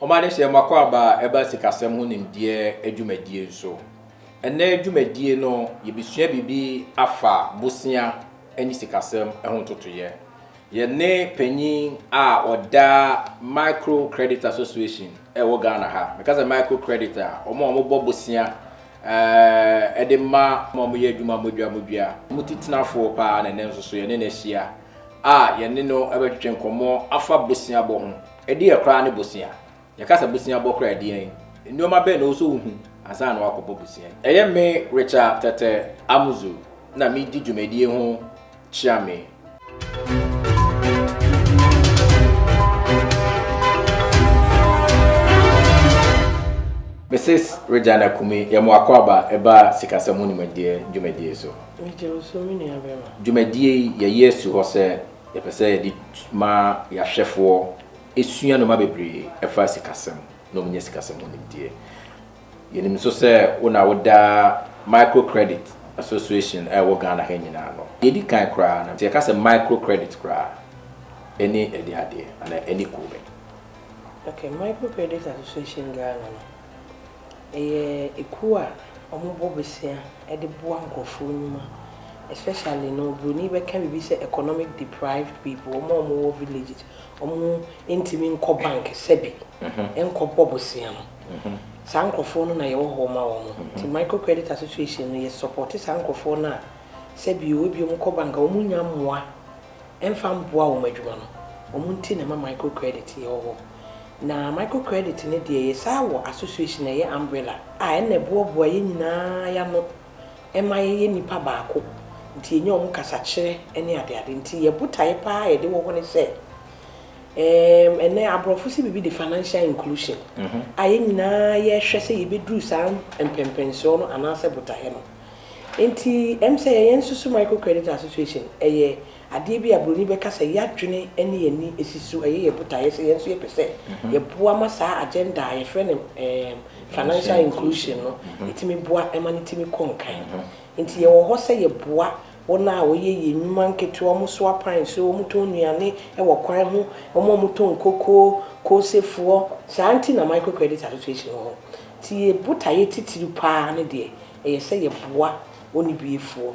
Wɔn adehyeɛ mu akwaaba a ɛba sikasɛm ho nimdeɛ adwumadie nso. Ɛnnɛ dwumadie no yɛbɛsua biribi afa bosea ne sikasɛm ho ntotoeɛ. Yɛne panyin a ɔda Micro Credit Association ɛwɔ Ghana ha. Meka sɛ Micro Credit a, wɔn a wɔbɔ bosea ɛɛ de ma wɔn a wɔyɛ adwuma modwa modwa. Wɔn titenafoɔ paa na ɛnnɛ nso so yɛne no ahyia a yɛne no ɛbɛtwetwe nkɔmmɔ afa boseabɔ ho. Ɛdeɛn koraa ne bosea? Yɛka sɛ bosea bɔ koraa a, ɛdeɛn nnoɔma bɛn na ɛwɔ sɛ wohu ansa na woakɔbɔ bosea? Ɛyɛ me Richard Tete Amuzu na medi dwumadie ho kyeame. Mrs Regina Kumi yɛ mo akwaaba ɛba sikasɛm ho nimdeɛ dwumadie so. Meda wo so me nuabarima. Dwumadie yi yɛyi asi hɔ sɛ. Yɛpɛ sɛ yɛde ma yɛahwɛfoɔ sua nnoɔma bebree ɛfa sikasɛm na wɔnya sikasɛm ho nimdeɛ. Yɛnim nso sɛ wo na woda Micro Credit Association a ɛwɔ Ghana ha nyinaa ano. Deɛ ɛdi kan koraa no, sɛ yɛka sɛ micro credit koraa a, ɛne ɛdeɛn adeɛ anaa ɛne kuo bɛn? Okay, Micro Credit Association Ghana no, Ɛyɛ ekuo a ɔmo bɔ bosea de boa nkorɔfoɔ nnwuma especially no broni bɛka biribi sɛ economic deprived people ɔmo a ɔmo wɔ villages ɔmo ntumi nkɔ bank sɛbi nkɔ bɔ bosea no saa nkorɔfoɔ no na yɛwɔ hɔ ma wɔn nti micro credit association no yɛ support saa nkorɔfoɔ no a sɛbi o ebi ɔmo kɔ bank a ɔmo nya mmoa ɛmfa mboa wɔn adwuma no ɔmo nti na ɛma micro credit yɛwɔ hɔ. Na micro credit no deɛ yɛsaa wɔ association a ɛyɛ umbrella a ɛna ɛboaboa yɛn nyinaa yɛn ano ma yɛyɛ nnipa baako nti yɛnya wɔn kasakyerɛ ne adeade nti yɛn botaeɛ pa ara a yɛde wɔ hɔ ne sɛ ɛɛm ɛnɛ aborɔfo se biribi de financial inclusion a yɛn nyinaa yɛhwɛ sɛ yɛbɛduru saa mpɛmpɛnsoɔ no anaasɛ botaeɛ no nti ɛm sɛ yɛn nso so micro credit association ɛyɛ Adeɛ bi a buroni bɛka sɛ yɛadwene ne yɛn ani si so yɛ yɛn botaeɛ sɛ yɛn nso yɛpɛ sɛ yɛboa ma saa agenda a yɛfrɛ no financial inclusion no tumi boa ma no tumi kɔ nkan. Nti yɛwɔ hɔ sɛ yɛboa wɔn a wɔyɛ yɛn nnwuma nketewa, wɔsoa pan so, wɔtɔn nnuane wɔ kwan ho, wɔn a wɔtɔ nkoko, koosefoɔ, saa nti na Micro Credit Association wɔ hɔ. Nti yɛn botaeɛ titiriw pa ara ne deɛ, ɛyɛ sɛ yɛboa ɔnnibeafoɔ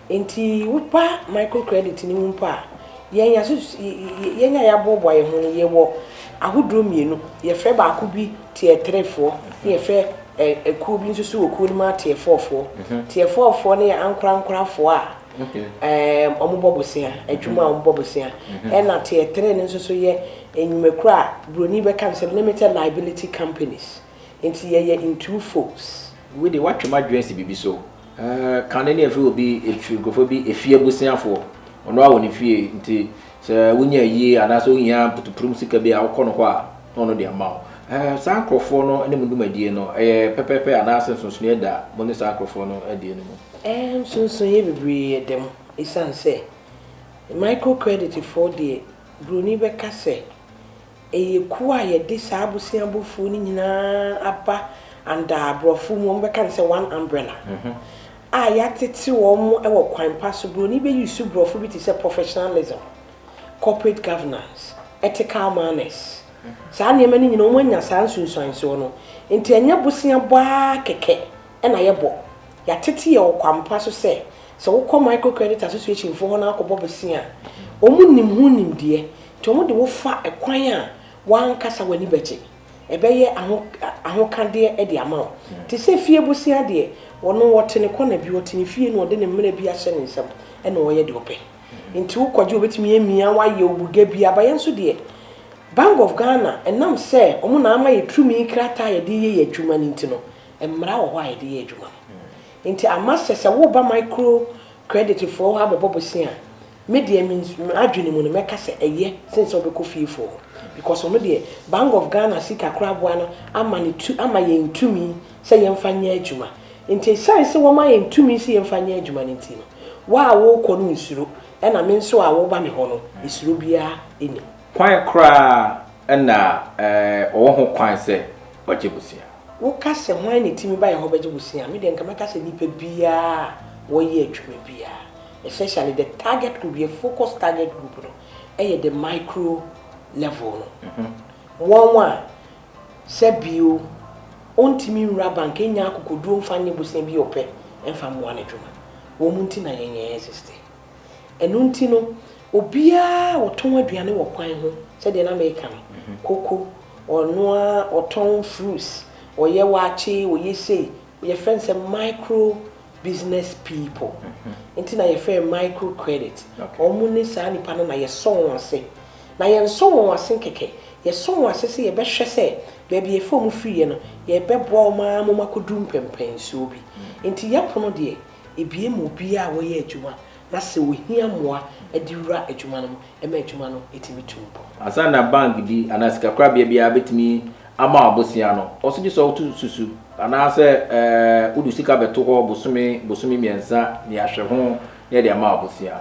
Enti woba microcredit no mu mpo a, yɛn asus yɛn a yɛaboaboa yɛn ho no, yɛwɔ ahodoɔ mmienu. Yɛfrɛ baako bi Tier Threefoɔ, na yɛfrɛ ɛkuo bi nso so wɔ kuo no mu a Tier Fourfoɔ. Tier Fourfoɔ no yɛ ankorankorafoɔ a ɛɛm wɔbɔ bosea, adwuma a wɔbɔ bosea. Ɛna Tier Three no nso so yɛ nnwumakuo a Buroni bɛka no sɛ limited liability companies. Nti yɛyɛ ntuu folks. Wei deɛ woatwe m'adwene asi biribi so. Ɛɛh, kane no ɛfiri obi, ɛfiri nkurɔfoɔ bi, ɛfie abusuafoɔ. Ɔno ara wɔ ne fie, nti sɛ wonya ayie anaasɛ wohia mputupurum sika bi a, wokɔ no hɔ a, na ɔno de ama wo. Ɛɛh, saa nkurɔfoɔ no ne mo dwumadie no, ɛyɛ pɛpɛɛpɛ anaasɛ nsonsonoeɛ da mo ne saa nkurɔfoɔ no adie no mu? Ɛɛh, nsonsonoeɛ bebree da mu. Ɛsiane sɛ microcreditfoɔ deɛ, buroni bɛka sɛ Ɛyɛ kuo a yɛde saa aboseabofoɔ no nyinaa aba under aborɔfo mu wɔbɛka no sɛ one umbrella a yɛatete wɔn wɔ kwan pa so. Buroni bɛ use borɔfo bi te sɛ professionalism, corporate governance, ethical manners. Saa nneɛma no nyinaa wɔn anya saa nsunsuansoɔ no. Nti ɛnyɛ boseabɔ ara kɛkɛ na yɛbɔ. Yɛatete yɛn wɔ kwan pa so sɛ, sɛ wokɔ micro credit association foɔ hɔ na akɔbɔ bosea a, wɔn nim ho nimdeɛ. To ho de wo fa kwan a w'ankasa w'ani bɛgye. Ɛbɛyɛ ahokadeɛ de ama wo. Te sɛ fie bosea deɛ, ɔno ɔte ne kɔna bi, ɔte ne fie na ɔde ne mmerɛ bi ahyɛ ne nsam na ɔyɛ deɛ ɔpɛ. Nti wo kɔgye ɔbɛtumi amia wo ayɛ obuga bi. Aba yɛn nso deɛ, Bank of Ghana, ɛnam sɛ wɔn na ama yɛ turumi krataa a yɛde yɛ yɛ adwuma no nti no, mmara wɔ hɔ a yɛde yɛ adwuma no. Nti ama sɛ, sɛ woreba micro credit foɔ hɔ abɛbɔ bosea a, Me deɛ me me adwene mu no mɛka sɛ ɛyɛ sen sɛ wobɛkɔ fiefoɔ hɔ because wɔn deɛ Bank of Ghana sika koraboa no ama no tu ama yɛn tumi sɛ yɛmfa nyɛ adwuma nti ɛsiane sɛ wɔma yɛn tumi sɛ yɛmfa nyɛ adwuma no nti no wo a worekɔ no nsuro ɛna me nso a woreba me hɔ no ɛsuro biara ɛnim. Kwan koraa na ɔwɔ ho kwan sɛ ɔgye bosea. Woka sɛ hwan na ɛtumi ba yɛhɔ bɛgye bosea a me deɛ nka mɛka sɛ nipa biara a wɔyɛ adwuma biara Essentially the target group, yɛn focus target group no yɛ the micro level no. Wɔn a sɛ bio ɔntumi nwura bank nnya akokoduo mfa nyɛ bosea bi a ɔpɛ mfa mmoa n'adwuma. Wɔn nti na yɛn yɛn existe. Ɛno nti no obiara a ɔtɔn aduane wɔ kwan ho sɛdeɛ na meka no, koko, ɔnoa, ɔtɔn fruits, ɔyɛ waakye, ɔyɛ sei, yɛfrɛ no sɛ micro business people nti na yɛfrɛ yɛ micro credit ɔmo ne saa nipa no na yɛsɔ wɔn ase na yɛn nsɔ wɔn ase nkɛkɛ yɛsɔ wɔn ase sɛ yɛbɛhwɛ sɛ baabi yɛfrɛ ɔmo firi yɛ no yɛbɛboa ɔmo ara ma ɔmo akɔduru mpɛmpɛnsoɔ bi nti yɛ pono deɛ ebue ma obiara a ɔyɛ adwuma na sɛ ohia mmoa de wura adwuma no mu. ma adwuma no tumi tu mpɔn. Ansa na bank bi anaa sikakorabea biara betumi ama wo abosea no, ɔwɔ sɛ gye sɛ woto susu anaasɛ wode sika bɛto hɔ bosome bosome mmiɛnsa ne ahwɛ ho na yɛde ama wo abosea.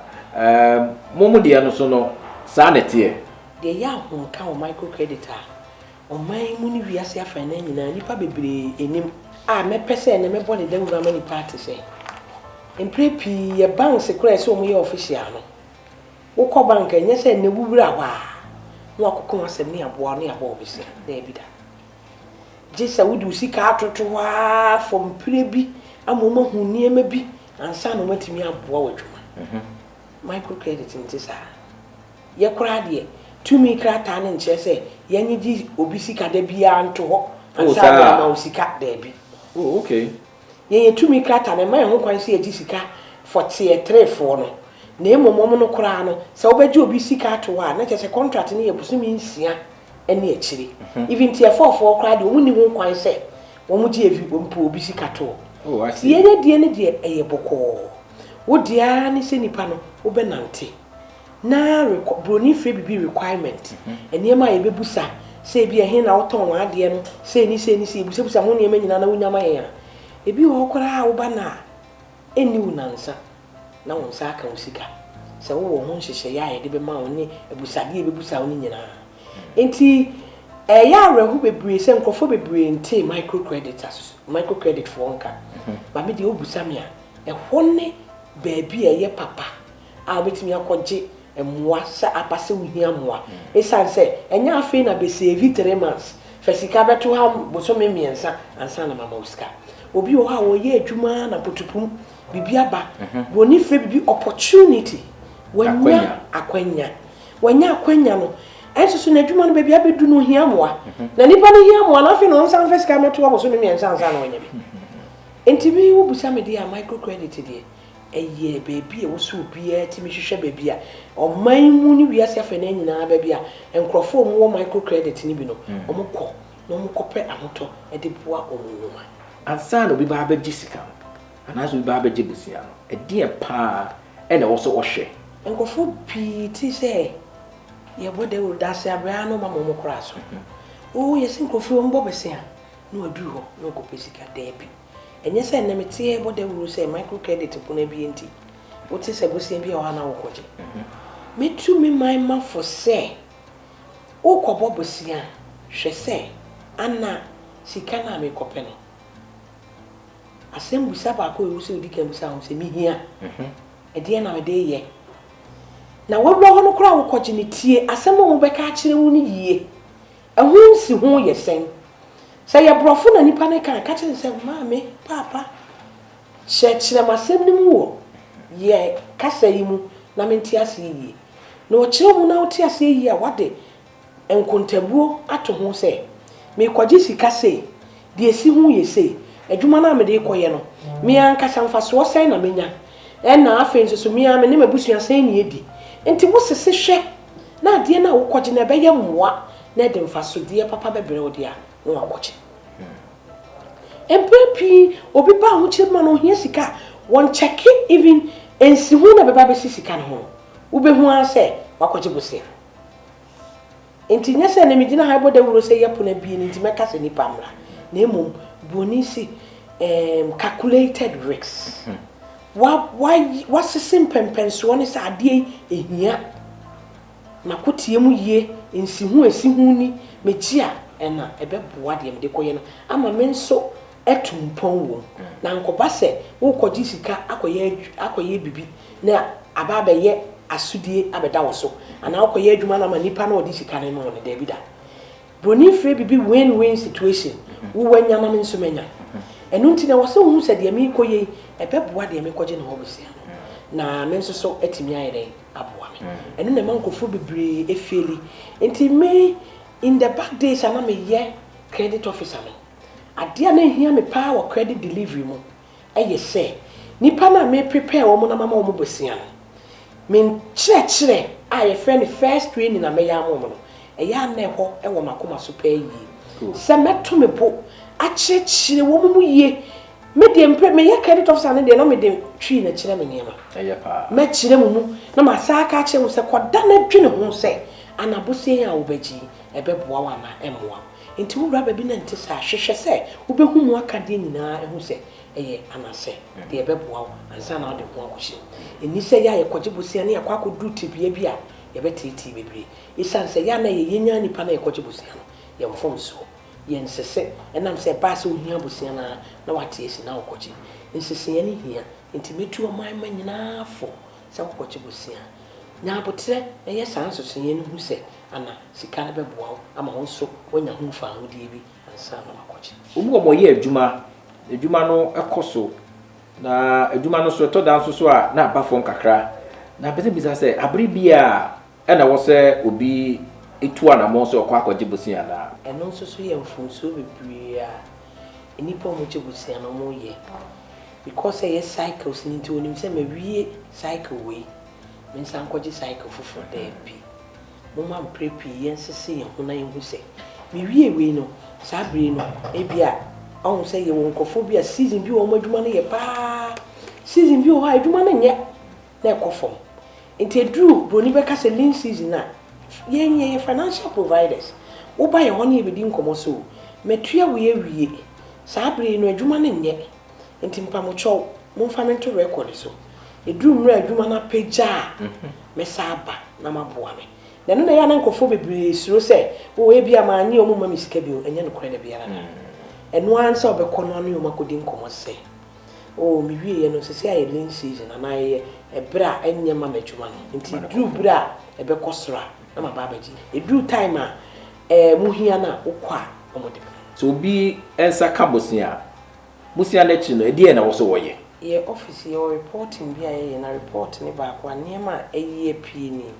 Mo mo deɛ no so no, saa na ɛteɛ. Deɛ ɛyɛ ahomka wɔ microcredit a ɔman yi mu ne wiase afanan nyinaa nnipa bebree nim a mɛpɛ sɛ ɛnnɛ mɛbɔ ne dawuru ama nnipa ate sɛ, mprɛ pii yɛ banks koraa a ɛsɛ wɔyɛ official no, Wokɔ bank a, ɛnyɛ sɛ nnɛ wowura hɔ ara na woakɔka wo asɛm ne aboa wo ne abɔ wo bosea. Daabi da. Gye sɛ wode wo sika atoto hɔ ara for mprɛ bi ama wɔahu nneɛma bi ansa na wɔatumi aboa wo adwuma. Microcredit nte saa. Yɛ koraa deɛ, tumi krataa no nkyerɛ sɛ yɛnnyegye obi sika da biara nto hɔ ansa na yɛama wo sika. Daabi. Oh, okay. Yɛyɛ tumi krataa no, ɛmma yɛn ho kwan sɛ yɛgye sika fɔteɛ trefoɔ no, na mmom wɔn no koraa no, sɛ wobɛgye obi sika ato hɔ a, na kyerɛ sɛ contract no yɛ bosome nsia ne akyire. Even tiɛfɔɔfoɔ koraa deɛ, wɔnni ho kwan sɛ wɔgye evi, mpo obi sika toɔ. Nti yɛn adie no deɛ, ɛyɛ bɔkɔɔ. Wo deɛ ara ne sɛ nipa no, wobɛnante. na rekɔ broni frɛ biribi requirement, nneɛma a yɛbɛbusa sɛ ebi a ɛhe na wotɔn w'adeɛ no, sei ne sei ne sei, yɛbusabusa ho nneɛma nyinaa na wonya ma yɛn a, ebi wɔ hɔ koraa a woba no a, ɛnni wo nnansa na wo nsa aka wo sika. Sɛ wowɔ ho nhyehyɛeɛ a yɛde bɛma wo ne abusadeɛ a yɛbɛbusa wo no nyinaa. Enti ɛyɛ awerɛho bebree sɛ nkurɔfoɔ bebree ntee micro credit ase, micro credit foɔ nka. Maame deɛ wobusa me a, ɛhɔ ne baabi a ɛyɛ papa. a wobɛtumi akɔgye mmoa sɛ aba sɛ wohia mmoa ɛsiane sɛ ɛnyɛ afei na bɛsɛɛvi three months fa sika bɛto ha bosome mmiɛnsa ansa na mama wo sika obi wɔ hɔ a ɔyɛ adwuma ara na potopum biribi aba broni frɛ biribi opportunity wanya akwanya wanya akwanya no ɛnso so n'adwuma no baabi abɛdu no ohia mmoa na nipa no hia mmoa na afei na ɔnsan fa sika mɛto ha bosome mmiɛnsa ansa na wanya bi nti bi wobisa me deɛ a microcredit deɛ Ɛyɛ baabi a ɛwɔ sɛ obiara tumi hwehwɛ baabi a ɔman mu ne wiase afei no nyinaa baabi a nkurɔfoɔ a wɔwɔ micro credit no bi no, wɔkɔ na wɔkɔpɛ ahotɔ de boa wɔn nnwuma. Ansa na obi bɛba abɛgye sika no anaasɛ obi bɛba abɛgye bosea no, ɛdeɛn pa ara na ɛwɔ sɛ ɔhwɛ? Nkurɔfoɔ pii te sɛ yɛbɔ dawuro, dase abrɛ ara na wɔma ma wɔkora so. Oo, yɛse nkurɔfoɔ yi wɔmmɔ bosea na wɔaduru hɔ na wɔkɔpɛ sika. Daabi. Ɛnyɛ sɛ nnɛ mete rebɔ dawuru sɛ microcredit pon abue nti wote sɛ bosea bi a ɔha na wokɔgye. Metu me man ma fo sɛ worekɔbɔ bosea a, hwɛ sɛ ana sika no a merekɔpɛ no, asɛmmisa baako a ɛwɔ mu sɛ wodi kan bisa wo sɛ, Mihia? Ɛdeɛn na mede reyɛ? Na w'awura hɔ no koraa a wokɔgye no, tie asɛm a wɔbɛka akyerɛ wo no yie. Ɛho nsiho yɛ sɛn? Sɛ ɛyɛ brɔfo na nipa no ka a, ka kyerɛ no sɛ, Maame, Paapa, kyerɛkyerɛ m'asɛm no mu wɔ yɛn kasa yi mu na mente aseɛ yie. Na ɔkyerɛ mu na wote aseɛ yie a, wode nkontabuo ato ho sɛ, Merekɔgye sika sei, Deɛ ɛsi ho yɛ sei, Adwuma no a mede rekɔyɛ no, me ankasa mfasoɔ sɛn na mɛnya? Ɛnna afei nso so, me ara me ne m'abusua sɛn na yɛadi? Enti wosese hwɛ na adeɛ no a wokɔgye no ɛbɛyɛ mmoa na ɛde mfasodeɛ papa bɛbrɛ wo deɛ a, na woakɔgye. Mprɛ pii obi ba ahokyerɛ bi mu a na ɔhia sika a, wɔnkyɛke even nsiho no a ɛbɛba abɛsi sika no ho no, wobɛhu ara sɛ wakɔgye bosea. Enti nyɛ sɛ na migyina ha rebɔ dawuro sɛ yɛpon abien nti mɛka sɛ nnipa mmra, na mmom buroni se um calculated risks. Wa, wa, wasese mpɛnpɛnsoɔ ne sɛ adeɛ yi ɛhia mako teɛ mu yie, nsiho a ɛsi ho ni, megye a ɛna ɛbɛboa deɛ mede rekɔyɛ no ama me nso. tu mpɔn wom. Na ankɔba sɛ worekɔgye sika akɔyɛ akɔyɛ biribi na aba abɛyɛ asodie abɛda wo so, anaa wokɔyɛ adwuma no ama nipa na ɔde sika no rema wo no, daabi da. Buroni frɛ biribi win-win situation, wo wanya na me nso manya. Ɛno nti na ɛwɔ sɛ wohu sɛ deɛ merekɔ yei, ɛbɛboa deɛ merekɔgye no hɔ bɛsia no, na me nso so atumi ayɛ dɛn aboa me. Ɛno na ɛma nkurɔfoɔ bebree feeli. Nti me in the back days a na meyɛ credit officer no, Adeɛ a na ɛhia me paa wɔ credit delivery mu yɛ sɛ nnipa no a me prepare wɔn na mama wɔn bosea no, me nkyerɛkyerɛ a yɛfrɛ no first training a mɛyɛ ama wɔn no, ɛyɛ a na ɛhɔ wɔ m'akoma so paa yie sɛ mɛto me bo akyerɛkyerɛ wɔn mu yie. Me deɛ mpɛ meyɛ credit officer no deɛ na mede twi na kyerɛ me nneɛma. Ɛyɛ paa. Mɛkyerɛ mo mu na masan aka akyerɛ mo sɛ kɔda na dwene ho sɛ anabosea yi a wobɛgye yi ɛbɛboa wo anaa ɛmmoa wo. Enti wowura baabi na ɛnte saa a, hwehwɛ sɛ wobɛhu mu akadeɛ nyinaa ahu sɛ ɛyɛ anasɛ deɛ ɛbɛboa wo ansa na wode ho akɔhyɛ mu. Ɛnni sɛ yɛ a yɛkɔgye bosea ne yɛakɔ akɔduru tebea bi a yɛbɛteetee bebree. Ɛsiane sɛ yɛ a na ɛyɛ yɛn ara nnipa na yɛkɔgye bosea no, yɛn mfomsoɔ, yɛn nsese, ɛnam sɛ ɛbaa sɛ wohia bosea no ara na wɔate asi na wokɔgye. Nseseeɛ no hia, enti mɛtu ɔman mma nyinaa fo sɛ wokɔgye bosea. Nya aboterɛ na yɛ saa nseseeɛ no hu sɛ Ana sika no bɛboa wo ama wo nso woanya ho mfaahodie bi ansa na woakɔgye? Wɔn a wɔyɛ adwuma, na adwuma no kɔ so, na adwuma no so ɛtɔ da nso so a na aba fam kakra, na mepɛ sɛ bisa sɛ, abere biara ɛna ɛwɔ sɛ obi tu anammɔn sɛ ɔkɔ akɔgye bosea anaa? Ɛno nso so yɛ mfomsoɔ bebree a nnipa a wɔgye bosea no wɔyɛ. Because sɛ ɛyɛ cycles no nti, wɔnim sɛ mawie cycle wei, mensan nkɔgye cycle foforɔ, daabi. Momma mprɛ pii yɛnsese yɛn ho na yenhu sɛ, miwiee wei no, saa bere yi no, ebia wɔahu sɛ yɛwɔ nkurɔfo bi a season bi wɔ hɔ wɔn adwuma no yɛ paa. Season bi wɔ hɔ a adwuma no nyɛ na ɛkɔ fam. Nti eduru buroni bɛka sɛ lean season a, yɛn yɛyɛ financial providers. Woba yɛn hɔ na yebedi nkɔmmɔ sɛ, oh, matua wei awie. Saa bere yi no adwuma no nyɛ. Nti mpamokyɛw momfa me nto record so. Ɛduru mmerɛ a adwuma no apagya a, mɛsan aba na moaboa me. Na ɛno na ɛyɛ a na nkurɔfoɔ bebree suro sɛ, oh ebi a mannye wɔn mma me sika bio. Ɛnyɛ nokorɛ da biara da. Ɛno ara ne sɛ wobɛkɔ na ɔne wɔn akɔdi nkɔmmɔ sɛ, oh mewieɛ no, seesei ayɛ lean season anaa ɛyɛ ɛberɛ a ɛnyɛ mma m'adwuma no. Nti ɛduru berɛ a ɛbɛkɔ soro a, na maba abɛgye. Ɛduru time a. Ɛɛ mo hia no a wokɔ a ɔmo de brɛ. Sɛ obi nsa ka bosea a bosea no akyiri no ɛdeɛn na ɛwɔsɛ wɔyɛ. Yɛ office yɛwɔ reporting bi a yɛyɛ na report no baako a nneɛma a ɛyi apie nie.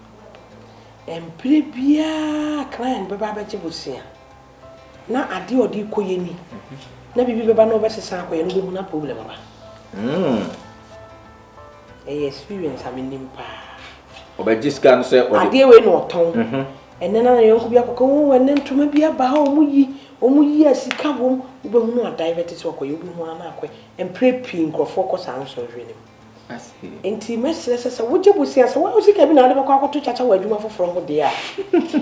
Ɛmprɛ biara client bɛba abɛgye bosea na adeɛ a ɔde rekɔ yɛ ni na biribi bɛba na ɔbɛsesa akɔ yɛ no wobɛhu na problem aba. Hmm. Ɛyɛ experience a menim paa. Ɔbɛgye sika no sɛ ɔde. Adeɛ wei na ɔtɔn. Mhm. Ɛnɛ na yɔnko bi akɔka o ɛnɛ ntoma bi aba ha ɔmo yi ɔmo yi a sika wom wobɛhunu adan bɛte sɛ ɔkɔyɛ wobɛhu ara na akɔɛ mprɛ pii nkorɔfoɔ kɔ saa nsɔhwɛ no mu. Nti mɛsrɛ sɛ sɛ wogye bosea sɛ wo sika bi na wode bɛkɔ akɔto kyakya wɔ adwuma foforɔ ho deɛ a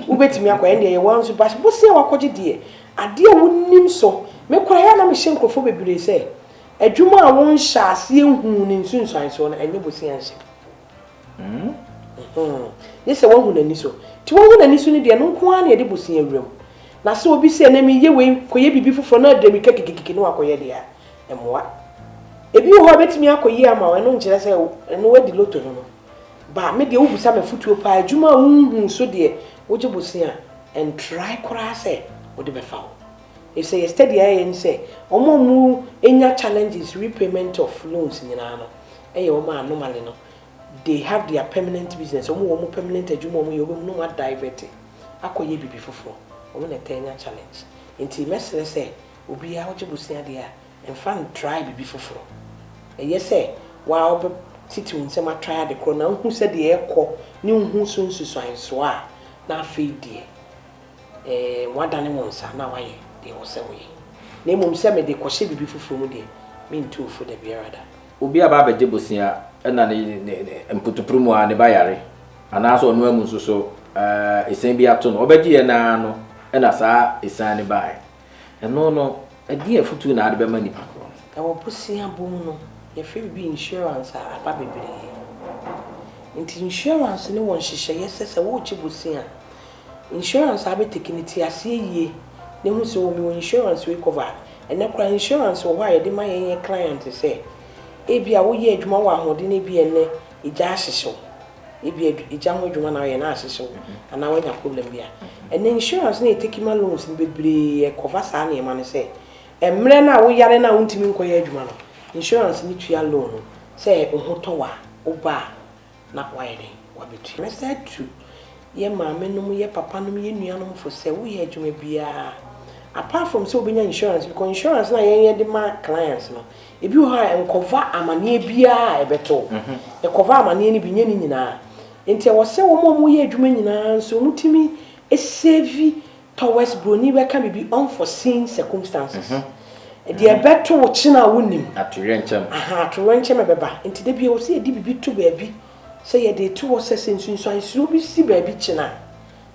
wobɛtumi akɔ ɛndeɛ yɛ wɔn nso bas bosea wakɔgye deɛ adeɛ wonim so me koraa yɛ a na mehyɛ nkorɔfoɔ bebree sɛ Adwuma a wonhyɛ aseɛ nhuu ne nsunsuansoɔ no, ɛnyɛ bosea nhyɛ. Gye sɛ woahu n'ani so. Nti woahu n'ani so no deɛ, ɛno nko ara na yɛde bosea wura mu. Na sɛ obi sɛ, na mereyɛ wei kɔyɛ biribi foforɔ na ɔde mmirika kikikiki na wakɔyɛ deɛ a, ɛmmoa. Ebi wɔ hɔ a, ɛbɛtumi akɔ yie ama wo, ɛno nkyerɛ sɛ ɛno woadi loto no no. Ba, me deɛ wobisa me afotuo pa ara, adwuma a wonhuu so deɛ, wogye bosea a, ɛntrae koraa sɛ wode bɛfa wo. Efisɛ yɛ study a yɛyɛ ne sɛ wɔn a wɔn nya challenges repayment of loans nyinaa no yɛ wɔn a normally no they have their permanent business, wɔn wɔ wɔn permanent adwuma a wɔyɛ, wɔbɛhu na wɔn a divert akɔ yɛ biribi foforɔ, wɔn na ɛtaa nya challenge. Nti mɛsrɛ sɛ obiara wogye bosea deɛ a mfa ntry biribi foforɔ. Ɛyɛ sɛ wo ara wobɛ titi wo nsam atry ade korɔ na wohu sɛdeɛ ɛkɔ ne wohu so nsusuansoɔ a na afei deɛ Woadane wo nsa na woayɛ deɛ ɛwɔ sɛ woyɛ, na mmom sɛ mede kɔhyɛ biribi foforɔ mu deɛ, mentu wo fo da biara da. Obi aba abɛgye bosea na ne mputupuru mu ara ne ba yare, anaasɛ ɔno ara mu nso so esian bi ato no. Ɔbɛgyeeɛ no ara no na saa esian no baeɛ. Ɛno no, ɛdeɛn afotuo na wode bɛma nnipa korɔ no? Wɔ bosea bom no, yɛfrɛ biribi insurance a, aba bebree. Nti insurance no wɔ nhyehyɛeɛ sɛ, sɛ woregye bosea a, insurance a wobɛtake no, te aseɛ yie na hu sɛ, oh, mewɔ insurance wei cover a. Ɛnnɛ koraa insurance wɔ hɔ a yɛde ma yɛn yɛn client sɛ, ebia woyɛ adwuma wɔ ahoɔden na ebia ɛnnɛ egya ahyehye wo. ebia gya ho adwuma na ayɛ na ahyehye wo anaa wanya problem bi a, ɛnɛ insurance no a yɛtake ma loans no bebree ɛkɔva saa nneɛma no sɛ mmerɛ no a woyare no a wontumi nkɔyɛ adwuma no, insurance no tua loan no sɛ wo ho tɔ wo a, wo ba a na wayɛ dɛn? Wabɛtua. Mɛsan tu yɛn maame nom, yɛn papa nom, yɛn nuanom fo sɛ woyɛ adwuma biara apart from sɛ wobɛnya insurance because insurance no a yɛn yɛde ma clients no, Ebi wɔ hɔ a, nkɔfa amaneɛ biara a ɛbɛto wo. Ɛkɔfa amaneɛ no bi, nyɛ ne nyinaa. Nti ɛwɔ sɛ wɔn a wɔyɛ adwuma nyinaa nso wɔtumi save towards buroni bɛka biribi, unforeseen circumstances. Deɛ ɛbɛto wo kyena a wonnim. Atoyerɛnkyɛm. Aha, atoyerɛnkyɛm a ɛbɛba. Nti da biara ɛwɔ sɛ yɛde biribi to baabi sɛ yɛde reto hɔ sɛ sɛ nsunsuansoɔ bi si baabi kyena a,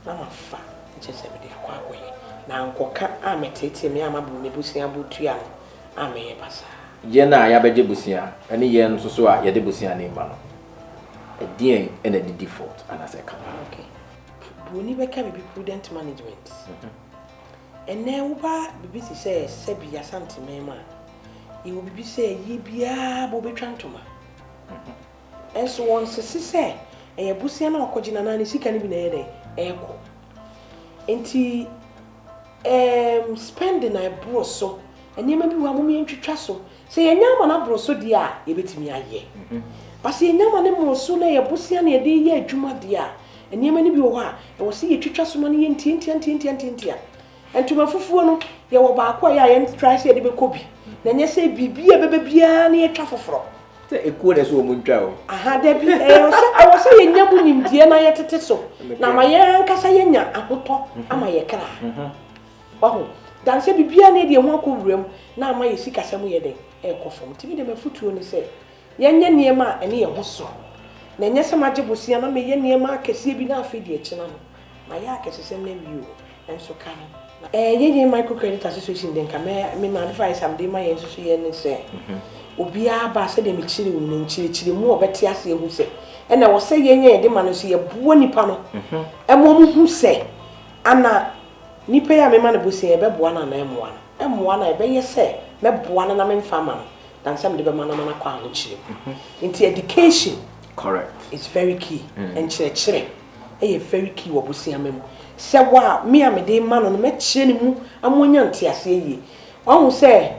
na mafa nkyɛ sɛ mede akɔ akɔyɛ. Na ankɔka ammeteetee me amma buroni abusua abotua no. a meyɛ basaa. Yɛn a yɛabɛgye bosea ne yɛn nso so a yɛde bosea no rema no, ɛdeɛn na ɛde default anaasɛ ɛka paa? Okay. Buroni bɛka biribi prudent management. Ɛnnɛ woba biribi te sɛ Serbia Asanteman mu a, yɛwɔ biribi sɛ yie biara bɔ bɛtwa ntoma. Nso wɔnsese sɛ ɛyɛ bosea na wakɔgye no anaa ne sika no bi na ɛyɛ dɛn ɛrekɔ. Nti ɛɛm spending a ɛboro so, nneɛma bi wɔ ha mom yɛntwitwa so. Sɛ yɛanya ama no aboro so deɛ a, yɛbɛtumi ayɛ. But sɛ yɛanya ama no mmoro so na ɛyɛ bosea na yɛde reyɛ adwuma deɛ a, nneɛma no bi wɔ hɔ a, ɛwɔ sɛ yɛtwitwa so ma no yɛ ntiantia ntiantia ntiantia. Ntoma fufuo no, yɛwɔ baako a yɛ a yɛntrae sɛ yɛde bɛkɔ bi, na ɛnyɛ sɛ biribi a ɛbɛba biara na yɛtwa foforɔ. Sɛ ekuo na ɛsɛ wɔn ntwa o. Aha, dabi, ɛwɔ sɛ, ɛwɔ sɛ yɛnya mu nimdeɛ na yɛtete so, na ama yɛn ankasa yɛanya ahotɔ ama yɛn kra. Wahu? Dan sɛ biribiara na yɛde yɛn ho akɔ wura mu, na ama yɛn sikasɛm yɛ dɛn? Ɛrekɔ fam. Nti me deɛ m'afotuo ne sɛ, yɛnyɛ nneɛma a ɛne yɛn ho sɔ, na ɛnyɛ sɛ magye bosea na meyɛ nneɛma akɛseɛ bi na afei deɛ akyina no, Mayɛ akɛsesɛm no awie o, nanso ka no na. Yɛn Micro Credit Association deɛ nka mɛ, me ma advice a mede ma yɛn nsusuiɛ ne sɛ, obiara ba a sɛdeɛ mekyerɛɛ mu no, nkyerɛkyerɛmu a ɔbɛte ase ahu sɛ, ɛna ɛwɔ sɛ yɛn a yɛde ma no nso yɛboa nnipa no ma wɔhu sɛ, ana nipa yi a mema no bosea yi, ɛbɛboa no anaa ɛmmoa no? Ɛmmoa no a, ɛbɛyɛ sɛ mɛboa no na memfa mma no than sɛ mede bɛma no ama no akɔ ahokyerɛ mu. Nti, education is very key, nkyerɛkyerɛ. yɛ very key wɔ bosiama mu. Sɛ wo a, me a mede rema no no, mɛkyerɛ ne mu ama wanya nteaseɛ yie. Wahu sɛ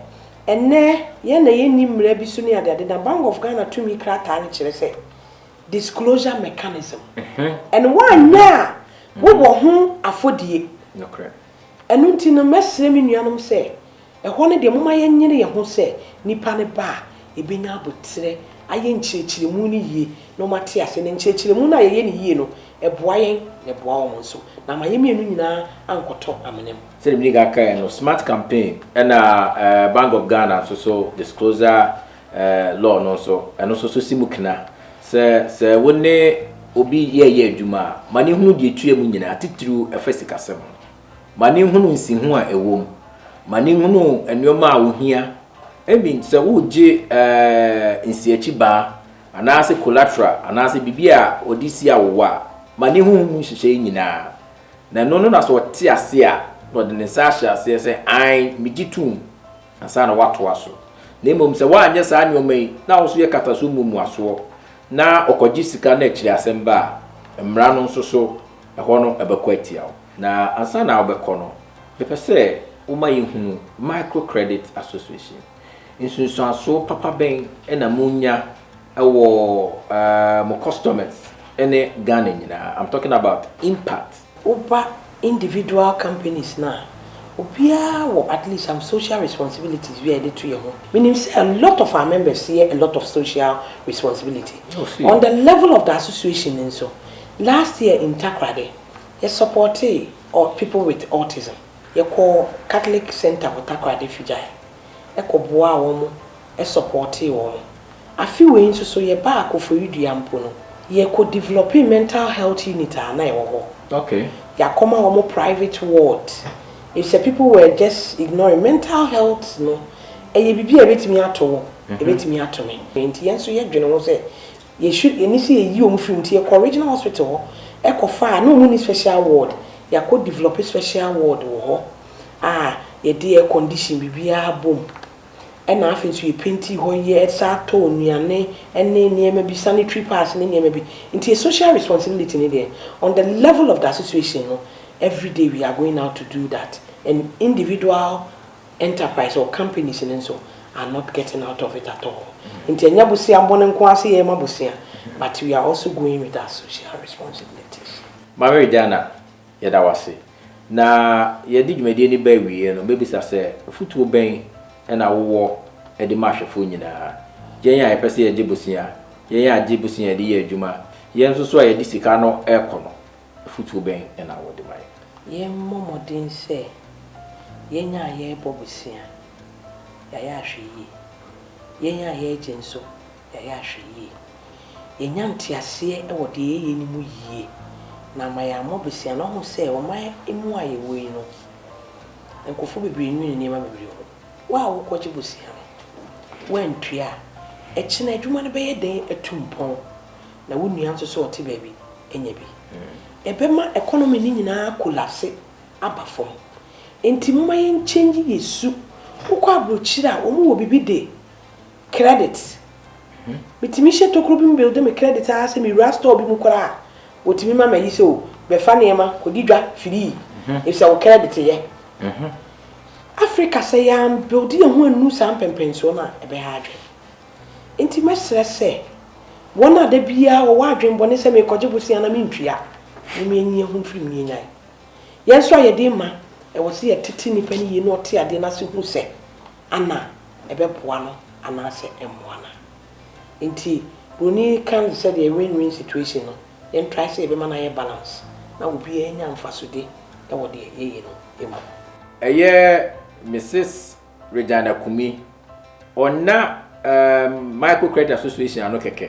ɛnnɛ yɛn na yɛnni mmara bi so ne adeade na Bank of Ghana tumi krataa no kyerɛ sɛ disclosure mechanism. And woanyɛ a, wowɔ ho afɔdie. Nokorɛ. Ɛno nti no, mɛsrɛ me nuanom sɛ Ɛhɔ no deɛ, momma yɛnyere yɛn ho sɛ nipa no ba a, yɛbɛnya aboterɛ ayɛ nkyerɛkyerɛmu no yie na wɔate aseɛ. Na nkyerɛkyerɛmu no a yɛyɛ no yie no, ɛboa yɛn na ɛboa wɔn nso, na ama yɛn mmienu nyinaa ankɔtɔ amena mu. Sɛdeɛ medi kan kaeɛ no, smart campaign ɛna Bank of Ghana nso so disclosure law no nso, ɛno nso so si mu kena sɛ, sɛ wo ne obi yɛreyɛ adwuma a, ma no nhunu deɛ ɛtua mu nyinaa, titiriw ɛfa sikasɛm ho. ma no nhunu nsiho a ɛwɔ mu, ma no nhunu nneɛma a ohia. Ebi nti sɛ woregye nsiakyibaa anaasɛ collateral anaasɛ biribi a wɔde si awowa a, ma no nhunu mu nhyehyɛe nyinaa. Na ɛno no na sɛ ɔte ase a, na ɔde ne nsa ahyɛ aseɛ sɛ, Aane, megye tom, ansa na watoa so. Na mmom sɛ woanyɛ saa nneɛma yi, na wo nso yɛ kata so mmuamuasoɔ, na ɔkɔgye sika na akyiri asɛm ba a, mmara no nso so, ɛhɔ no ɛbɛkɔ atia wo. Na ansa na wobɛkɔ no, yɛpɛ sɛ woma yɛhunu Microcredit Association. Nsunsuansoɔ papa bɛn na monya wɔ mo customers ne Ghana nyinaa? I'm talking about impact. Woba individual companies no a, obiara wɔ at least some social responsibilities bi a yɛde to yɛn ho. Menim sɛ a lot of our members yɛ a lot of social responsibility. On the level of the association nso, last year in Takoradi, Yɛsɔpɔɔtee ɔɔ People With Autism. Yɛkɔɔ Catholic Centre wɔ Takoradi Figyae kɔ boaa wɔn sɔpɔɔtee wɔn. Afe wei nso so yɛbaa Koforidua Dua mpo no, yɛkɔ developing mental health unit a na ɛwɔ hɔ. Yɛakɔma wɔn private ward efisɛ people were just ignoring mental health no ɛyɛ biribi a ɛbɛtumi ato wo, ɛbɛtumi ato me. Enti yɛn nso yɛdwene ho sɛ Yɛhwɛ yɛn ani sɛ yɛyi wɔn firi mu nti yɛkɔ regional hospital hɔ kɔ fa a na wɔn nni special ward, yɛakɔ develop special ward wɔ hɔ a yɛde air condition biribiara bɔ mu ɛna afei nso yɛ painti hɔ yɛ san atɔ nnuane ɛne nneɛma bi sanitary pads ne nneɛma bi nti yɛ social responsibility no deɛ on the level of the association no everyday we are going out to do that and individual enterprise or companies no nso are not getting out of it at all nti ɛnyɛ bosea bone nko ara sɛ yɛma bosea but we are also going with our social responsibilities. Marie Diana, yɛda wo ase. Na yɛde dwumadie no ba awieɛ no, mɛbisa sɛ afutuo bɛn na wowɔ de ma ahwɛfoɔ nyinaa? Yɛn a yɛpɛ sɛ yɛgye bosea, yɛn a yɛgye bosea de yɛ adwuma, yɛn nso so a yɛde sika no rekɔ no, Afotuo bɛn na wɔde ma yɛn? Yɛmmɔ mmɔden sɛ yɛn a yɛrebɔ bosea, yɛayɛ ahwɛyie. Yɛn a yɛregye nso, yɛayɛ ahwɛyie. Yɛnya nteaseɛ wɔ deɛ yɛyɛ no mu yie, na ama yɛammɔ bosea no. Woahu sɛ ɔman mu a yɛwɔ yi no, nkurɔfoɔ bebree nnwene nneɛma bebree ho. Wo a wokɔgye bosea no, woantua a, ɛkyena adwuma no bɛyɛ den atu mpɔn. na wo nua nso sɛ ɔte baabi nya bi. Ɛbɛma economy no nyinaa akolapse aba fam. Enti momma yɛn change yɛ su. Wokɔ abrokyire a wɔn wɔ biribi de credit. Metumi hyɛ tokuro bi mu builde me credit ara sɛ mewura store bi mu koraa a wɔtumi ma mayi sɛ o bɛfa nneɛma kɔdi dwa firii efisɛ wo credit yɛ. Africa sɛ yɛn builde yɛn ho annu saa mpɛmpɛnsoɔ no a ɛbɛha adwene. Enti mɛsrɛ sɛ wɔn a da biara wɔwɔ adwemmɔne sɛ merekɔgye bosea na mentua no ma enyi ahu mfiri mu no nnyae. Yɛn nso a yɛde rema, ɛwɔ sɛ yɛtete nnipa no yie na ɔte adeɛ no ase hu sɛ ana ɛbɛboa no anaasɛ ɛmmoa no a. Enti buroni ka no te sɛ deɛ win-win situation no, yɛntrae sɛ yɛbɛma no ayɛ balance na obiara anya mfasode wɔ deɛ yɛyɛ no mu. Ɛyɛ Mrs. Regyan Akumi. Ɔnna um, Micro Credit Association ano kɛkɛ.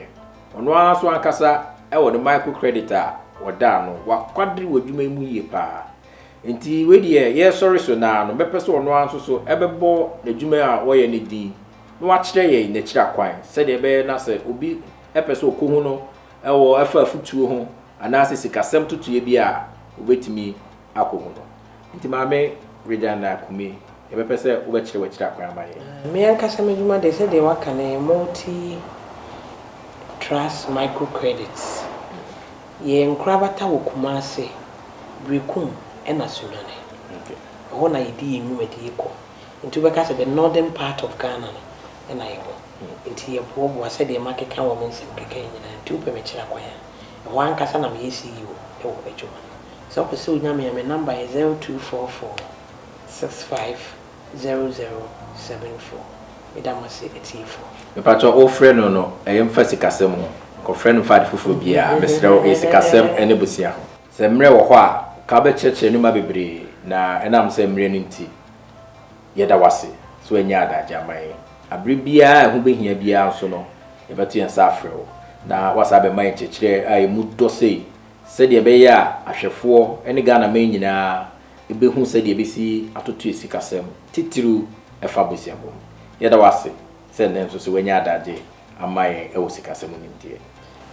Ɔno ara nso ankasa wɔ ne micro credit a ɔda ano. Wakwadere wɔ adwuma yi mu yie paa. Nti wei deɛ yɛresɔre so naa no, mɛpɛ sɛ ɔno ara nso so ɛbɛbɔ n'adwuma a ɔyɛ no din na wakyerɛ yɛn n'akyira kwan sɛdeɛ ɛbɛyɛ na sɛ obi pɛ sɛ ɔkɔ ho no ɛwɔ ɛfa afutuo ho anaasɛ sikasɛm totoeɛ bi a obɛtumi akɔhu no. Enti Maame Regina Kumi, yɛbɛpɛ sɛ wobɛkyerɛ w'akyiri akwan ama yɛn. Me ankasa m'adwuma deɛ, sɛdeɛ woaka no, ɛyɛ multi trust micro credit. Yɛn nkorabata wɔ Kumasi, Berekum ɛna Sunyani. Ɛhɔ na yɛdi yɛn nwumadie kɔ. Nti wobɛka sɛ the northern part of Ghana no ɛna yɛwɔ. Nti yɛboaboa sɛdeɛ makeka wɔ me nsɛm kɛkɛ yi nyinaa. Nti wopɛ mekyerɛ akwan a, ɛhɔ ankasa na meyɛ CEO wɔ m'adwuma no mu. Sɛ wopɛ sɛ wonya me a, me number yɛ zero two four four six five zero zero seven four. Meda mo ase atiefoɔ. Mepakyɛw wo frɛ no no ɛyɛ mfa sikasɛm ho nkɔfrɛ no mfa ade foforɔ biaa mesrɛ wo ɛyɛ sikasɛm ɛne bosea ho. Sɛ mmerɛ wɔ hɔ a nka wobɛkyerɛkyerɛ nnoɔma bebree na ɛnam sɛ mmerɛ no nti yɛda wo ase sɛ wanyɛ adagye ama yɛn. Aberɛ biaa a ɛho bɛhia biaa nso no yɛbɛto yɛn nsa afrɛ wo na woasan abɛma yɛn nkyerɛkyerɛ a ɛmu dɔ sei Sɛdeɛ ɛbɛyɛ a ahwɛfoɔ ne Ghanaman nyinaa bɛhu sɛdeɛ ɛbɛsi atoto asikasɛm, titiriw ɛfa abusuabɔ ho. Yɛda wo ase sɛ nnɛ nso so woanya adagye ama yɛn wɔ sikasɛm nimdeɛ.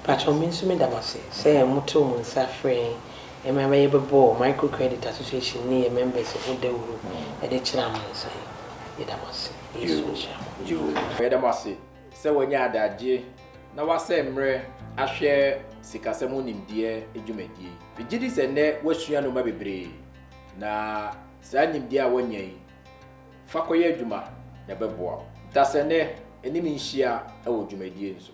Pakyɛw me nso meda mo ase sɛ motoo mo nsa frɛɛ yɛn ma yɛbɛbɔɔ Micro Credit Association ne yɛn members ho dawuru de kyerɛɛ amansan. Yɛda mo ase. Yesu nhyira mo. Yoo, yɛda mo ase Sɛ wanya adagyeɛ na wasɛe mmerɛ ahwɛ sikasɛm ho nimdeɛ dwumadie yi, megye di sɛ nnɛ woasua nnoɔma bebree na saa nimdeɛ a woanya yi, fa kɔyɛ adwuma na ɛbɛboa wo dasɛnnɛ anim nhyia wɔ dwumadie no so.